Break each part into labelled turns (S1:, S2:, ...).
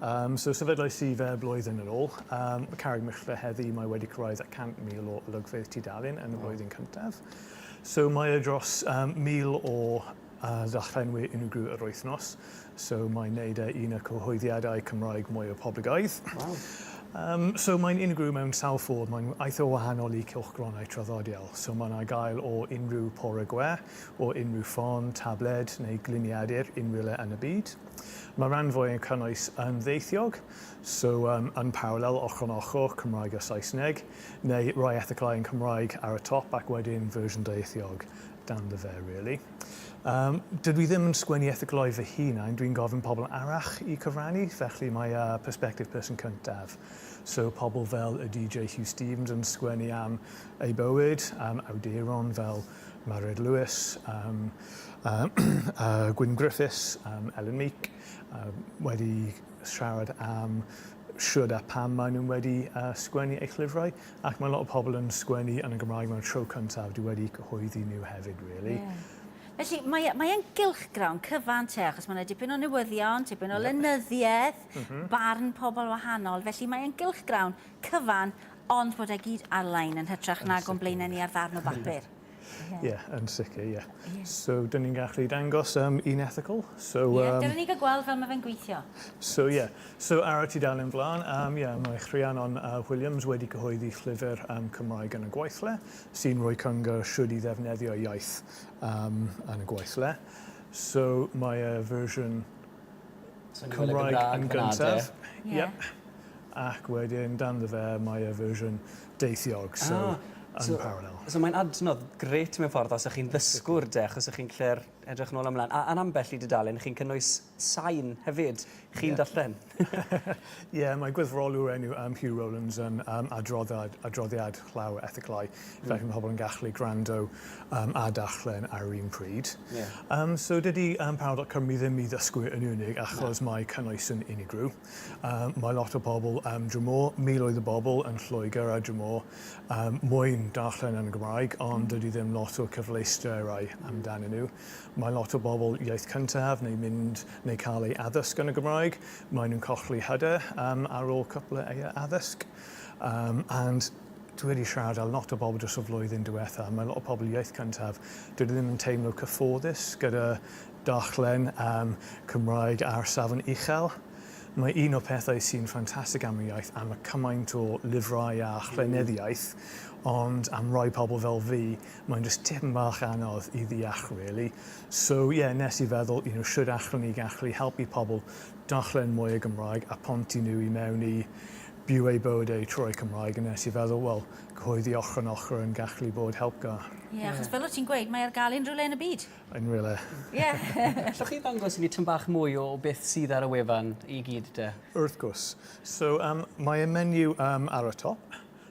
S1: Um, so sefydlais i fe blwyddyn yn ôl. Um, Carreg Myrchfe heddi, mae wedi cyrraedd at 100,000 o olygfeydd tudalen yn y flwyddyn cyntaf. So mae e dros um, 1,000 o uh, ddallenwyr unigryw yr wythnos. So mae'n neud e un o cyhoeddiadau Cymraeg mwy o poblogaidd. Wow. Um, so mae'n unigryw mewn sawl ffordd, mae'n eitha o wahanol i cylchgronau traddodiol. So mae'n ar gael o unrhyw pore gwe, o unrhyw ffôn, tabled neu gliniadur unrhywle yn y byd. Mae'r rhan fwyaf yn cynnwys yn ddieithiog, so yym yn parallel, ochr yn ochr, Cymraeg a Saesneg, neu rhai erthyglau yn Cymraeg ar y top ac wedyn fersiwn ddieithiog dan dy fer, really. Yym, dydw i ddim yn sgwennu erthyglau fy hunain, dwi'n gofyn pobl arall i cyfrannu, felly mae yy perspective person cyntaf, so pobl fel y DJ Huw Stephens yn sgwennu am ei bywyd, am awduron fel Mairéad Lewis, um, um, a Gwyn Griffiths, um, Ellen Meek, uh, wedi siarad am siwrd a pam maen nhw wedi uh, sgwennu eich llyfrau, ac mae lot o pobl yn sgwennu yn y Gymraeg mae'n tro cyntaf, dwi wedi cyhoeddi nhw hefyd, really. Yeah. Felly,
S2: mae'n mae gylchgrawn cyfan te, achos mae'n dipyn o newyddion, tipyn o yep. lenyddiaeth, mm -hmm. barn pobl wahanol. Felly, mae'n gylchgrawn cyfan Ond bod e gyd ar-lein yn hytrach nag o'n blaenau ni ar ddarn o bapur. Ie,
S1: yn sicr, ie. So, dyn ni'n gallu dangos um, un ethicol. So, um, yeah, dyn ni'n
S2: cael gweld fel mae fe'n gweithio. So, ie. Yeah.
S1: So, ar y tudalen flaen, um, yeah, mae Rhiannon uh, Williams wedi cyhoeddi llyfr um, Cymraeg yn y gweithle, sy'n rhoi cyngor siwyd i ddefnyddio iaith um, yn y gweithle. So, mae y fersiwn Cymraeg yn gyntaf. Yep. Ac wedyn dan dy fer mae y fersiwn deithiog, so yn parallel. So mae'n adnodd
S3: grêt mewn ffordd os ych chi'n ddysgwr de, achos ych chi'n gallu'r edrych nôl a mlaen. A yn ambell i dudalen chi'n cynnwys sain hefyd chi'n darllen. Ie,
S1: mae gwyddrol yw'r enw am Hugh Rowlands yn um, adroddad, adroddiad llaw ethiclau. Mm. Felly mae pobl yn gallu gwrando um, a darllen ar yr un pryd. Yeah. Um, so dydy um, Paradox Cymru ddim i ddysgwyr yn unig achos no. mae cynnwys yn unigryw. Um, mae lot o bobl am um, drymo, miloedd o bobl yn Lloegr a drymo um, mwyn darllen yn y Gymraeg, ond mm. dydy ddim lot o cyfleusterau amdanyn nhw. Mae lot o bobl iaith cyntaf neu mynd neu cael eu addysg yn y Gymraeg, maen nhw'n colli hyder um, ar ôl cwpl o eu addysg. Um, and dwi wedi siarad â lot o bobl dros y flwyddyn diwetha, mae lot o pobl iaith cyntaf, dwi ddim yn teimlo cyfforddus gyda darllen um, Cymraeg ar safon uchel. Mae un o'r pethau sy'n ffantastig am y iaith am y cymaint o lyfrau a chleneddiaeth, ond am rai pobl fel fi, Mae'n jyst tipyn bach anodd i ddeall really. So yeah, nes i feddwl, you know, shwd allwn ni gallu helpu pobl darllen mwy o Gymraeg a pontu nhw i mewn i byw eu bywyd eu trwy Cymraeg, a nes i feddwl, wel, cyhoeddi ochr yn ochr yn gallu bod helpgar. Ie, yeah, achos fel o ti'n
S2: gweud, mae ar gael unrhyw le yn y byd. Yn rhywle. Ie.
S1: Allwch
S3: chi ddangos i ni tym bach mwy o beth sydd ar y wefan i gyd de? Wrth gwrs.
S1: So um, mae y menyw um, ar y top,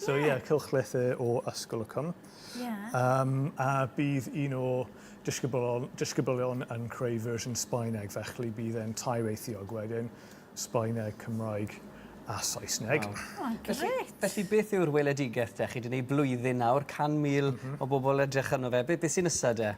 S2: So ie,
S1: cylchlythyr o Ysgol y Cwm. Ie. Um, a bydd un o disgyblion, disgyblion yn creu fersiwn Sbaeneg, felly bydd e'n tair eithiog wedyn, Sbaeneg, Cymraeg a Saesneg. Wow. Oh, felly,
S3: felly beth yw'r weledigaeth de? Chi wedi gwneud blwyddyn nawr, 100,000 mm -hmm. o bobl edrych arno fe. Beth be sy'n nesaf de?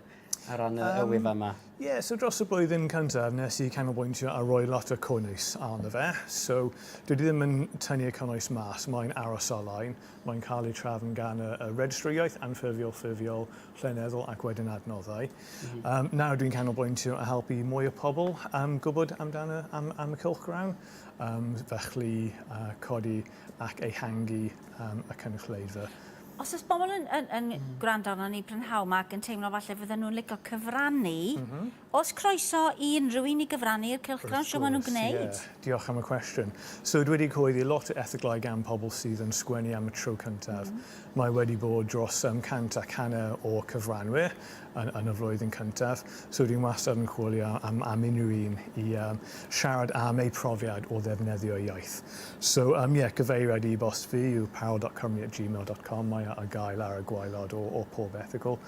S3: Ar ran y um, wyf yma. Ie, yeah, so dros y
S1: blwyddyn cyntaf nes i canolbwyntio a roi lot o cynnwys arno fe. So dwi ddim yn tynnu y cynnwys mas, mae'n aros ar-lein, mae'n cael ei trafn gan y, y registry iaith, anffurfiol, ffurfiol, lleneddol ac wedyn adnoddau. Mm -hmm. um, nawr dwi'n canolbwyntio a helpu mwy o pobl um, gwybod amdano am, am y cylchgrawn, um, felly uh, codi ac ehangu y cynulleidfa. Os oes bobl
S2: yn, yn, yn mm. gwrando arno ni brynhawn ma ac yn teimlo falle fydden nhw'n licio cyfrannu, mm -hmm. os croeso i unrhyw un i gyfrannu i'r cylchgrawn, siw maen nhw'n gwneud? Yeah. Diolch am y cwestiwn.
S1: So, dwi wedi coeddi lot o erthyglau gan pobl sydd yn sgwennu am y tro cyntaf. Mm -hmm. Mae wedi bod dros um, 100 ac hanner o cyfranwyr yn, yn y flwyddyn cyntaf. So dwi'n wastad yn chwilio am, am unrhyw un i um, siarad am eu profiad o ddefnyddio iaith. So, um, yeah, gyfeiriad i bost fi yw parel.cymru at gmail.com. Mae ar gael ar y gwaelod o, o pob erthigol.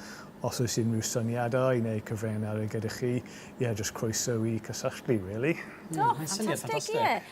S1: Os oes unrhyw syniadau neu cyfraniadau gyda chi, ie, yeah, jyst croeso i cysylltu, really. Do, mm, ffantastig,
S2: ie.